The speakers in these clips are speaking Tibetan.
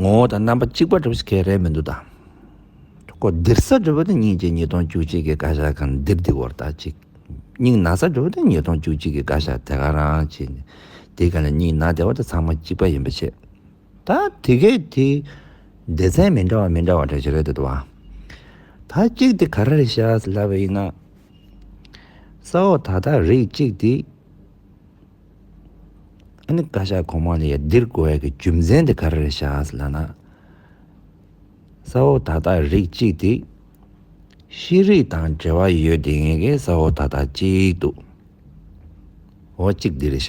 ངོ་བོ་དང་རྣམ་པ་གཅིག་པ་གྲུབ་ཟེར་མཁན་རེད་མི་འདུག་ད་ཀོ་ལྡིར་ས་གྲུབ་པ་དེ་གཉིས་ཀྱི་ཉིས་སྟོང་བཅུ་གཅིག་གི་བཀའ་ཤག་གང་ལྡིར་འདི་གོར་ད་ཅིག་སྙིང་ན་ས་གྲུབ་པ་དེ་ཉིས་སྟོང་བཅུ་གཅིག་གི་བཀའ་ཤག་དེ་ག་རང་ཅིག་ནས་དེ་ག་ལ་སྙིང་ན་དེ་བ་དེ་ཚང་མ་གཅིག་པ་ཡིན་པ་ཆེད་ད་དེ་གས་དེ་སྡེ་ཚན་མི་འདྲ་བ་མི་འདྲ་བ་གྲས་ཆེ་རེད་འདུག་ད་ད་ཅིག་དེ་ག་ར་རེད་ཤག་ལབ་པ་ཡིན་ན་ས་འོག་ད་ད་རིགས་གཅིག་དེ། ཨ་ནི་བཀའ་ཤག་གོང་མ་ལས་འདིར་བཀོལ་བའི་རྒྱུ་མཚན་དེ་ག་རེ་རེད་བྱ་ལ་ན། ས་འོག་ད་ལྟ་རིགས་གཅིག་དེ། ཤེས་རིག་དང་འབྲེལ་བ་ཡོད་དེ་ངེས་ཀྱི་ས་འོག་ད་ལྟ་གཅིག་འདུག་འོ་གཅིག་འདི་རེད་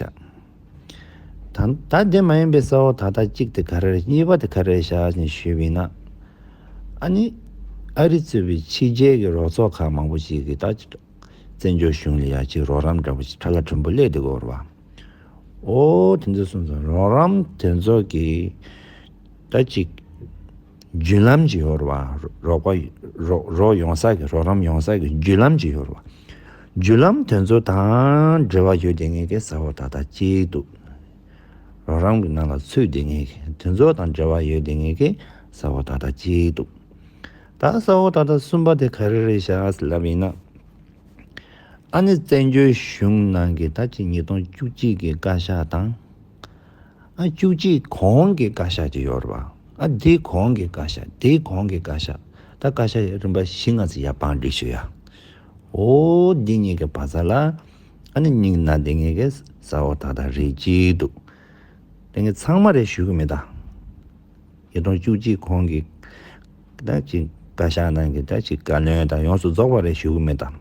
བྱ། ད་ལྟ་དེ་མ་ཡིན་པའི་ས་འོག་ད་ལྟ་གཅིག་དེ་ག་རེ་རེད་གཉིས་པ་དེ་ག་རེ་རེད་བྱ་ཞེས་ཞུས་པས་ན། ཨ་ནི་ཨ་རི་གཙོས་པའི་ཕྱི་རྒྱལ་གྱི་རོགས་ཚོགས་ཁག་མང་པོ་ཞིག་གིས་ད། བཙན་བྱོལ་གཞུང་ལ་ཡ་གཅིག་རོགས་རམ་འདྲ་པོ་ཞིག་ཁ་ལ་དྲོན་པོ་གླེགས་དེ་བསྐོར་བ། ཨོ། དེ་ཚོ་གསུམ་ཚོ་རོགས་རམ་དེ་ཚོ་གི་ད་ཅིག་བརྒྱུད་ལམ་གཅིག་ཡོད་རེད་བ། རོགས་པ་རོགས་ཡོང་ས་གི་རོགས་རམ་ཡོང་ས་གི་བརྒྱུད་ལམ་གཅིག་ཡོད་རེད་བ། བརྒྱུད་ལམ་དེ་ཚོ་དང་འབྲེལ་བ་ཡོད་དེ་ངས་གས་ས་བོ་ད་ད་ཅིག་འདུག་རོགས་རམ་གི་ནང་ལ་ཚུད་དེ་ངས་གས་དེ་ཚོ་དང་འབྲེལ་བ་ཡོད་དེ་ངས་གས་ས་བོ་ད་ད་ཅིག་འདུག་ད་ས་འོག་ད་ལྟ་གསུམ་པ་དེ་ག་རེ་རེད་ཞག་ཨ་སི་ལབ་ཡིན་ན། ཨ་ནི་བཙན་བྱོལ་གཞུང་ནང་གི་ད་ཅི་ཉིས་སྟོང་བཅུ་གཅིག་གི་བཀའ་ཤག་དང། ཨ་བཅུ་གཅིག་གོང་གི་བཀའ་ཤག་ཅིག་ཡོད་རེད་པ། ཨ་དེའི་གོང་གི་བཀའ་ཤག་དེའི་གོང་གི་བཀའ་ཤག་ད་བཀའ་ཤག་རིམ་པ་བཞི་ལྔ་ཟེར་ཡ་བང་སྒྲིག་ཞུ་ཡ། ཨོ་འདི་གཉིས་ཀྱི་བ་ཚྭ་ལ་ཨ་ནི་སྙིང་ན་དེ་གཉིས་ཀྱི་ས་འོག་ད་ད་རེད་ཅིག་འདུག་དེ་གཉིས་ཚང་མ་རེད་ཞུ་གི་མི་ད། ཞེ་སྡང་བཅུ་གཅིག་གོང་གི་བདག་ཅིག་བཀའ་ཤག་ནང་གི་བདག་ཅིག་བཀའ་བློན་དང་ཡོངས་སུ་རྫོགས་པ་རེ་ཞུ་གི་མེད་དམ།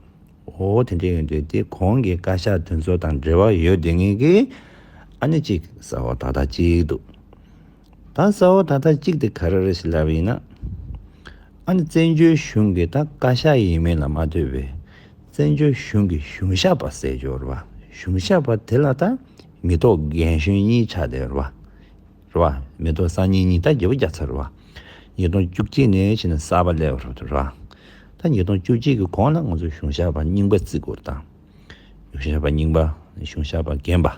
འོ་དེ་འདྲས་ཡོད་དུས་དེ་གོང་གི་བཀའ་ཤག་དེ་ཚོ་དང་འབྲེལ་བ་ཡོད་དུས་ངེད་ཀྱི་ཨ་ནེ་གཅིག་ས་འོག་ད་ལྟ་གཅིག་འདུག་ད་ས་འོག་ད་ལྟ་གཅིག་དེ་ག་རེ་རེད་ཞེས་ལབ་ཡིན་ན། ཨ་ནེ་བཙན་བྱོལ་གཞུང་གི་ད་བཀའ་ཤག་ཡིན་མིན་ལ་མ་ལྟོས་པའི་བཙན་བྱོལ་གཞུང་གི་གཞུང་ཞབས་པ་གསལ་རྗོར་བ་གཞུང་ཞབས་པ་དེ་ལ་ད་མི་ཐོག་རྒན་གཞོན་གཉིས་ཆ་དེར་བ། རེད། རེད། མེ་ཏོག་སང་ཉིན་ཉི་ཟླ་བརྒྱད་པོ་བརྒྱ་ཚར་རེད། ཉིས་སྟོང་བཅུ་གཅིག་ནས་ཕྱི་ནས་གསར་པ་ལས་རེད། ད་ཉིས་སྟོང་བཅུ་གཅིག་གི་གོང་ལ་ང་ཚོ་གཞུང་ཞབས་པ་རྙིང་པ་བརྩི་དགོས་དང། གཞུང་ཞབས་པ་རྙིང་པ་གཞུང་ཞབས་པ་རྒན་པ།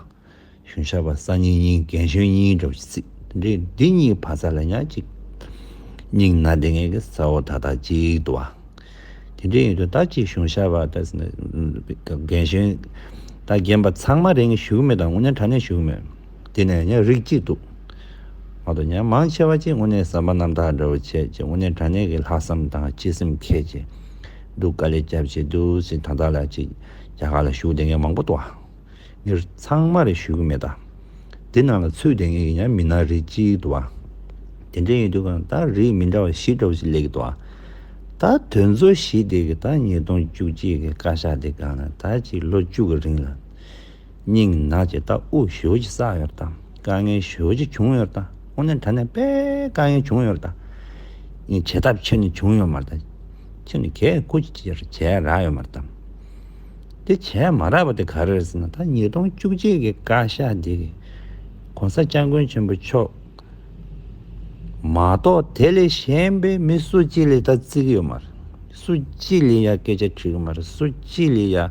གཞུང་ཞབས་པ་སང་ཉིན་གཉིས་རྒན་གཞོན་གཉིས་འདྲ་བོ་ཞིག་བརྩི། འདི་གཉིས་བར་ས་ལ་ཉག་གཅིག་རྙིང་ན་དེ་ངེད་ཀྱི་ས་འོག་ད་ལྟ་གཅིག་འདུག་ཨ། དེ་འདྲའི་ཡོད་དུས་ད་ཅིག་གཞུང་ཞབས་པ་ད་རྒན་གཞོན་ད་རྒན་པ་ཚང་མ་རེད་ངས་ཞུ་གི་མེད་དང་ངུ་ནས་དྲ་ནས་ཞུ་གི་མེད། དེ་ནས་ཡང་རིགས་གཅིག་འདུག། མ་དོ་ཡང་མང་ཆེ་བ་གཅིག་དངོས་གནས་ཟམ་པ་རྣམ་དག་འདྲ་བོ་བྱེད་ཅེས་དངོས་གནས་དྲང་གནས་ཀྱི་ལྷག་བསམ་དང་གཅེས་སེམས་མཁས་ཀྱི་འདུག་དཀའ་ལས་སྐྱབས་བྱེད་དུ་ཟིན་ད་ལྟ་ལ་ཅིག་རྒྱ་གར་ལ་ཞུགས་དེ་ངས་མང་པོ་ཏོ་ངེར་ཚང་མ་རེ་ཞུས་ཀྱི་མེད་ད། དེ་རྣམས་ལ་ཚུད་དེ་ངེས་ཀྱི་ཡང་མིན་ན་རིགས་གཅིག་འདུག་བ། དེ་འདྲ་ཡིན་དུས་གང་ད་རིགས་མི་འདྲ་བ་བཞི་འདྲ་བོ་ཞིག་ལས་ཀྱི་འདུག་བ། ད་དོན་གཙོ་བཞི་དེ་གི་ད་ཉིས་སྟོང་བཅུ་གཅིག་གི་བཀའ་ཤག་དེ་གང་ན་ད་ཅིག་ལོ་བཅུ་གི་རིང་ལ། སྙིང་ནད་ཀྱི་རྟགས་དབུགས་ཞོད་ཀྱིས་བསགས་ཡོད་པ་དང་དཀའ་ངལ་ཞོད་ཀྱིས་བྱུང་ཡོད་པ་དང་ཁོང་ནི་དྲན་ནས་དཔེ་དཀའ་ངལ་བྱུང་ཡོད་པ་དང། ངས་བྱེད་ཐབས་ཁྱེར་ནས་བྱུང་ཡོད་མ་རེད་དང། ཁྱེད་ནི་གས་སྐུ་ཅི་ཅི་རེ་བྱས་རག་ཡོད་མ་རེད་དམ། དེ་བྱས་མ་རག་པ་དེ་ག་རེ་རེད་ཟེར་ན་ད་ཉིས་སྟོང་བཅུ་གཅིག་གི་བཀའ་ཤག་འདི་གི ྋགོང་ས ྋསྐྱབས་མགོན་ཆེན་པོ་མཆོག་མ་གཏོགས་དེ་ལས་གཞན་པའི་མི་སུ་གཅིག་ལས་ད་བརྩི་གི་ཡོད་མ་རེད། སུ་གཅིག་ལས་ཡང་སྐད་ཆ་དྲིས་གི་མ་རེད་སུ་གཅིག་ལས་ཡང།